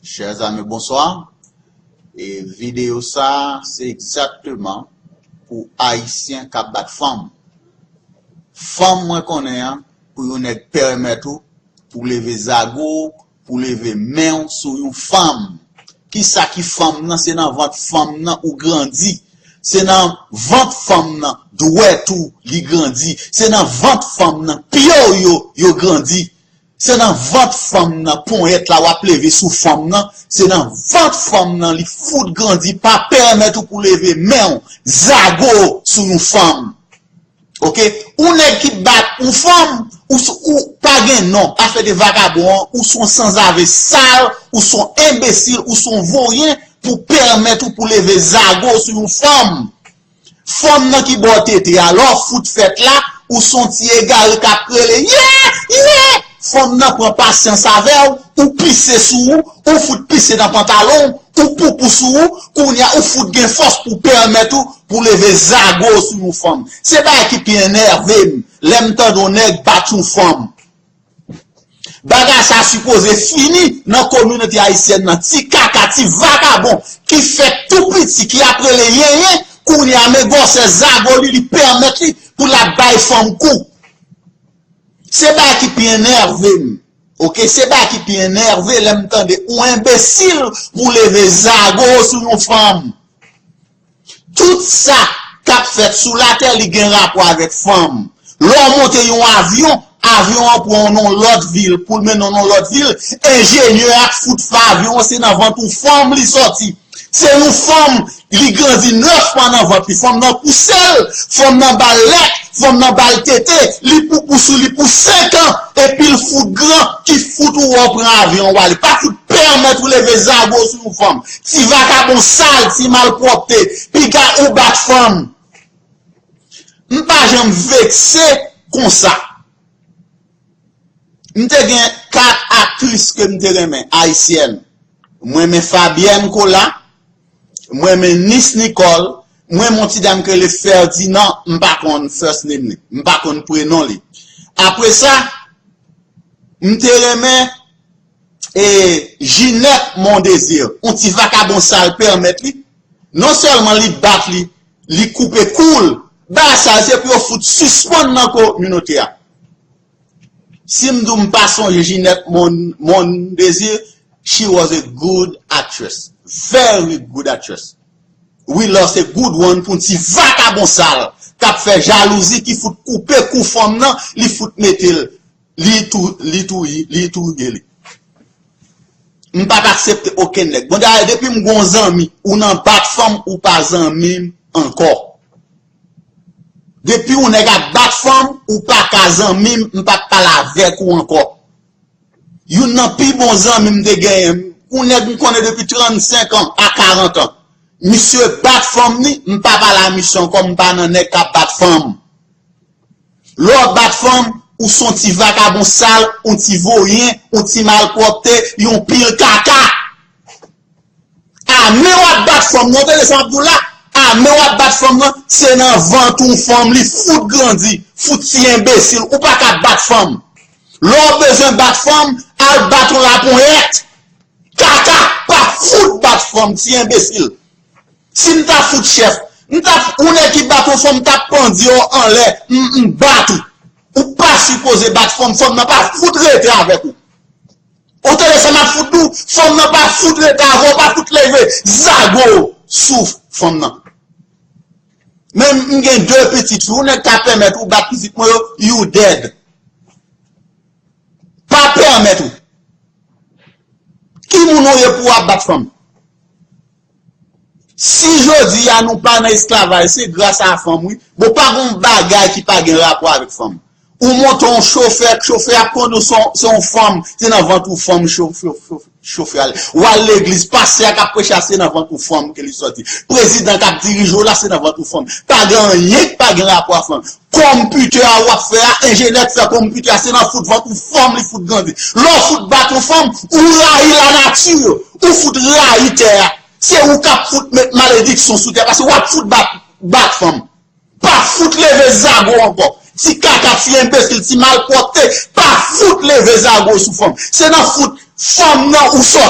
Chers amis bonsoir e video sa se exactement pou ayisyen kap bat fanm fanm mwen konnen an pou yon nèg pèmèt ou pou leve zago w pou leve men w sou yon fanm kisa ki fanm nan se nan vant fanm nan ou grandi se nan vant fanm nan dwèt ou li grandi se nan vant fanm nan pye w yo yo grandi Se nan vant fanm nan ponyèt la wap leve sou fanm nan, se nan vant fanm nan li fout grandi pa pèmèt ou pou leve menw zago sou yon fanm ok yon nèg ki bat yon fanm ou pa gen non afè de vakabon an ou son sanzave sal ou son enbesil ou son voryen pou pèmèt ou pou leve zago sou yon fanm. Fanm nan ki bò tete a lè w fout fèt la ou son ti egare kap rele yee yee fanm nan pran pasyans avè w ou pise sou ou ou fout pise nan pantalon w ou poupou sou ou kounya ou fout gen fòs pou pèmèt ou pou leve zago w sou yon fanm se bagay ki pi enève m lè m tande yon nèg bat yon fanm. Bagay sa sipoze fini nan kominote ayisyèn nan ti kaka ti vagabon ki fèt tou piti ki ap rele yenyen kounye a men gwòsè zago li li pèmèt li pou lap bay fanm kou se bagay ki pi enève m ok se bagay ki pi enève lèm tande ou enbesil pou leve zago sou yon fanm. Tout sa kap fèt sou latè li gen rapò avèk fanm. Lè w monte yon avyon, avyon an pran w nan yon lòt vil pou l mennen w nan yon lòt vil, enjenyè a k fout fè avyon an se nan vant yon fanm li sòti. Se yon fanm, li grandi 9 mwa nan vant li, fanm nan pouse l, fanm nan ba l lèt, fanm nan ba l tete, li poupou sou li pou 5 an, epi l fout gran ki fout ou wè w pran avyon w ale, pa fout pèmèt ou leve zago w sou yon fanm. Ti vakabon sal ti malpwopte piga ou bat fanm m pa janm vekse konsa m te gen 4 aktris ke m te renmen ayisyèn m renmen fabyèn kola m renmen nis nikòl m renmen yon ti dam ki rele fèdinan m pa konn first name li m pa konn prenon li apresa m te renmen e Ginette Mondésir, yon ti vakabon sal pèmèt li, non sèlman li bat li, li koupe kou l, bagay sa yo se pou yo fout sispann nan kominote a. Si m di w m pa sonje Ginette Mondésir, she was a good actress, very good actress. We lost a good one pou yon ti vakabon sal k ap fè jalouzi ki fout koupe kou fanm nan, li fout mete l. Li touye li. M pap aksepte okenn nèg. Bon dayè depi m gon zanmi ou nan bat fanm ou pa zanmi m ankò. Depi yon nèg ap bat fanm ou pa ka zanmi m m pap pale avèk ou ankò. Youn nan pi bon zanmi m te genyen yon nèg m konnen depi 35 an a 40 an. Misye bat fanm ni m pa pale a misye ankò m pa nan nèg kap bat fanm. Lè w ap bat fanm, ou s on ti vakabon sal, on ti voryen, on ti malpwòpte, yon pil kaka! Ame w ap bat fanm nan, tande sa m ap di w la, ame w ap bat fanm nan, se nan vant yon fanm li fout grandi, fout ti enbesil, ou pa ka bat fanm! Lè w bezwen bat fanm, al bat yon laponyèt! Kaka, pa fout bat fanm, ti enbesil! Si m ta fout chèf, m t ap ou nèg ki bat yon fanm m t ap pandye w anlè m bat ou. Ou pa sipoze bat fanm, fanm nan pa fout rete avèk ou. Ou tande sa m ap fout di w, fanm nan pa fout rete avè w, pa fout leve zago w sou fanm nan. Men m gen 2 pitit, yon nèg ka pèmèt ou bat pitit mwen yo, you dead. Pa pèmèt ou. Ki moun ou ye pou w ap bat fanm? Si jodi a nou pa nan esklavaj se gras a fanm wi, bon pa gen yon bagay ki pa gen rapò avèk fanm. Ou monte yon chofè, chofè ap kondi w se yon fanm, se nan vant yon fanm chofè al. Ou al legliz, pastè a k ap preche a se nan vant yon fanm ke li sòti. Prezidan k ap dirije w la se nan vant yon fanm. Pa gen anyen ki pa gen rapò ak fanm. Konpitè a w ap fè a, enjenyè k fè konpitè a se nan fout vant yon fanm li fout grandi. Lè w fout bat yon fanm, ou rayi lanati. Ou fout rayi tè a, se ou kap fout met malediksyon sou tè paske wap fout bat fanm. Pa fout leve zago ankò. Ti kaka, ti enbesil, ti malpwòpte, pa fout leve zago sou fanm. Se nan fout fanm nan ou sòti.